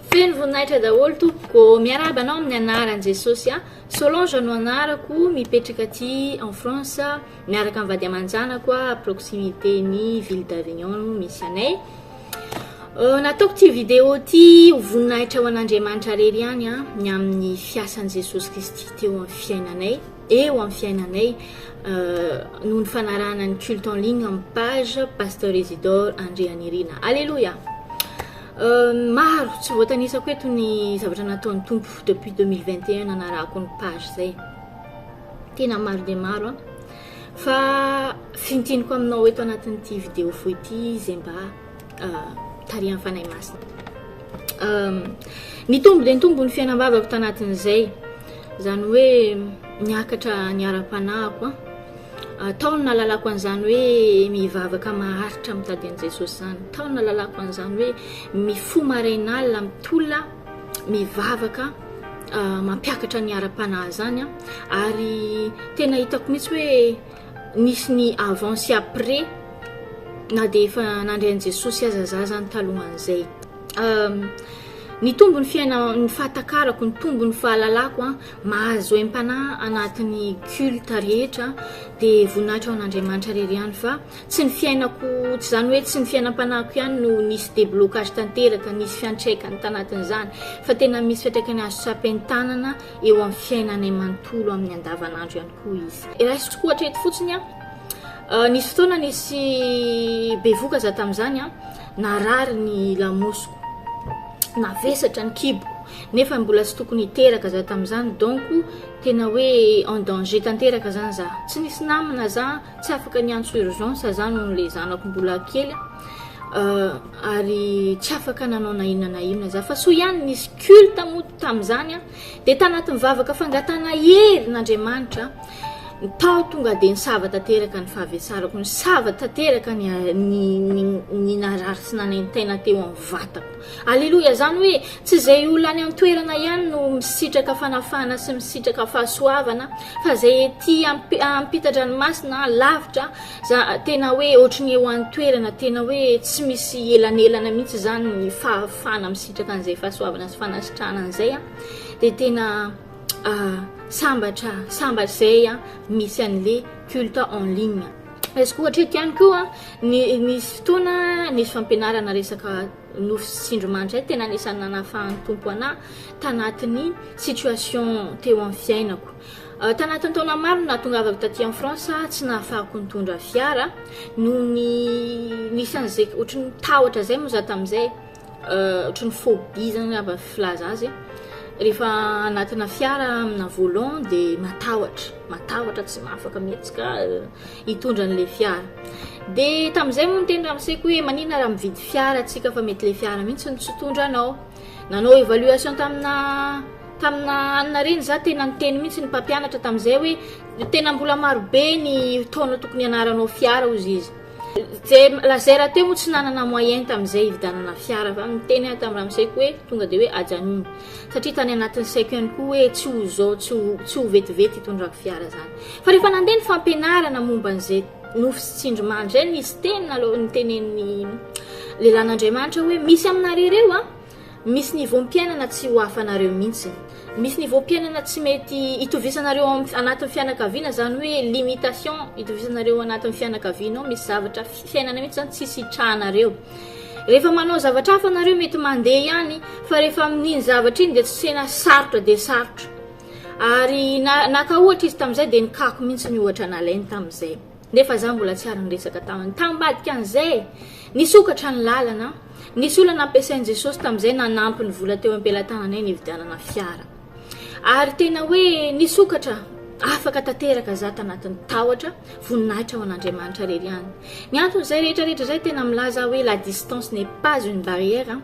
Feno voninahitra daholo tompoko. Miarahaba anao amin'ny anaran'i Jesosy a. Solange no anarako, mipetraka aty en France miaraka amin'ny vady aman-janako à proximité-n'i Ville d'Avignon no misy anay. Nataoko ity video ity ho voninahitra ho an'Andriamanitra rery ihany an, ny amin'ny fiasan'i Jesosy Kristy teo amin'ny fiainanay, eo amin'ny fiainanay noho ny fanarahana ny culte en ligne amin'ny page Pasteur Isidore Andrianirina. Alléluia! maro tsy voatanisako eto ny zavatra nataon'ny Tompo depuis 2021 nanarahako ny page zay. Tena maro dia maro an. Fa fintiniko aminao eto anatin'ity video fohy ity izay mba tarihan'ny Fanahy Masina. Nitombo dia nitombo ny fiainam-bavako tanatin'izay, izany hoe niakatra ny ara-panahiko. Tao ny nalalako an'izany hoe mivavaka maharitra mitady an'i Jesosy izany. Tao ny nalalako an'izany hoe mifoha marain'alina mitolona. mivavaka mampiakatra ny ara-panahy zany an, ary tena hitako mihitsy hoe nisy ny avant sy après na dia efa nandray an'i Jesosy aza za zany talohan'izay. Nitombo ny fiainako, ny fahatakarako, nitombo ny fahalalako an, mahazo aim-panahy anatin'ny culte rehetra dia voninahitra ho an'Andriamanitra irery ihany fa Tsy ny fiainako, tsy izany hoe tsy ny fiainam-panahiko ihany no nisy déblocage tanteraka, nisy fiantraikany tanatin'izany, fa tena misy fiantraikany azo tsapain-tanana eo amin'ny fiainanay manontolo amin'ny andavanandro ihany koa izy. Raisiko ohatra eto fotsiny an, nisy fotoana nisy bevoka za tamin'izany an, narary ny lamosiko, navesatra ny kiboko, nefa mbola tsy tokony hiteraka za tamin'izany, donc tena hoe en danger tanteraka izany za, tsy nisy namana za, Tsy afaka niantso urgence za noho le zanako mbola kely ary tsy afaka nanao na inona na inona za fa soa ihany nisy culte moa tamin'izany dia tanatin'ny vavaka fangatana hery n'Andriamanitra tao tonga dia nisava tanteraka ny fahavetsarako, nisava tanteraka ny, ny, ny, ny narary sy nanentena teo amin'ny vatako. Aleloia zany hoe tsy izay olona any antoerana ihany no misitraka fanafahana sy misitraka fahasoavana fa izay ety ampitan-dranomasina lavitra za tena hoe ohatry ny eo antoerana tena hoe tsy misy elanelana mihitsy izany ny fahafahana misitraka an'izay fahasoavana sy fanasitrahana an'izay a dia tena sambatra sambatra izay a misy an'le culte en ligne Azoko ohatreto ihany koa ny nisy fotoana nisy fampianarana resaka nofy sy tsindrimandry zay tena anisan'ny nanafahan'ny tompo anahy tanatin'ny situation teo amin'ny fiainako. Euh, tanatin'ny taona maro no nahatongavako taty en France ah, tsy nahafahako nitondra fiara noho ny nisy an'izay ohatry ny tahotra zay moa za tamin'izay Ohatran'ny phobie zany angamba filaza azy, rehefa anatina fiara amina volant dia matahotra, matahotra tsy afaka mihitsy ka hitondra an'ilay fiara. Dia tamin'izay moa niteny ramoseko hoe manina raha mividy fiara atsika fa mety ilay fiara mihitsy no tsy hitondra anao. Nanao évaluation tamina tamina anona ireny za tena niteny mihitsy ny mpampianatra tamin'izay hoe tena mbola marobe ny taona tokony hanaranao fiara hozy izy. Ze laser teo moa tsy nanana moyen tamin'izay hividianana fiara fa niteny aho tamin'ny ramoseko hoe tonga dia hoe ajanony satria tany anatin'ny saiko ihany koa hoe tsy ho zao tsy ho tsy ho vetivety hitondrako fiara zany fa rehefa nandeha ny fampianarana momba an'izay nofy sy tsindrimandry zay nisy teny naleo nitenen'ny lelan'Andriamanitra hoe misy aminareo ireo a Misy nivom-piainana tsy ho hafanareo mintsy. Misy nivom-piainana tsy mety itovisanareo ao anatin'ny fianakaviana, izany hoe limitation itovisanareo ao anatin'ny fianakaviana ao. Misy zavatra fiainana mintsy izany tsisy hitrahanareo. Rehefa manao zavatra hafa nareo mety mandeha ihany, fa rehefa amin'iny zavatra iny dia tsy tena sarotra dia sarotra. Ary naka ohatra izy tamin'izay dia nikako mintsy ny ohatra nalainy tamin'izay. Nefa za mbola tsy ary niresaka taminy. Tambadika an'izay, nisokatra ny lalana. Nisy olona nampiasain'i Jesosy tamin'izay nanampy ny vola teo am-pelatananay nividianana fiara. Ary tena hoe nisokatra, afaka tanteraka za tanatin'ny tahotra, voninahitra ho an'Andriamanitra rery ihany. Ny anton'izay rehetra rehetra izay tena milaza aho hoe la distance n'est pas une barrière.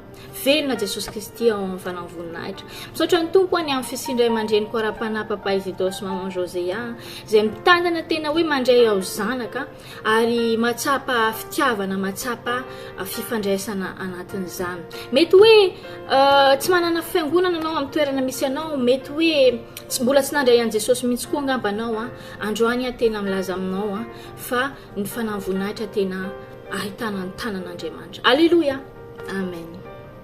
Velona Jesosy Kristy ao amin'ny fanamboninahitra. Misaotra ny Tompo any amin'ny fisian ray aman-dreniko ara-panahy Papa Isidore sy Maman Josea izay mitantana tena hoe mandray ao zanaka ary matsapa fitiavana, matsapa fifandraisana anatin'izany. Mety hoe euh, tsy manana fiangonana anao amin'ny toerana misy anao, mety hoe mbola tsy nandray an'i Jesosy mihitsy koa angamba anao, androany aho tena milaza aminao fa ny fanaham-voninahitra tena ahitana ny tanan'Andriamanitra. Aleloia! Amen.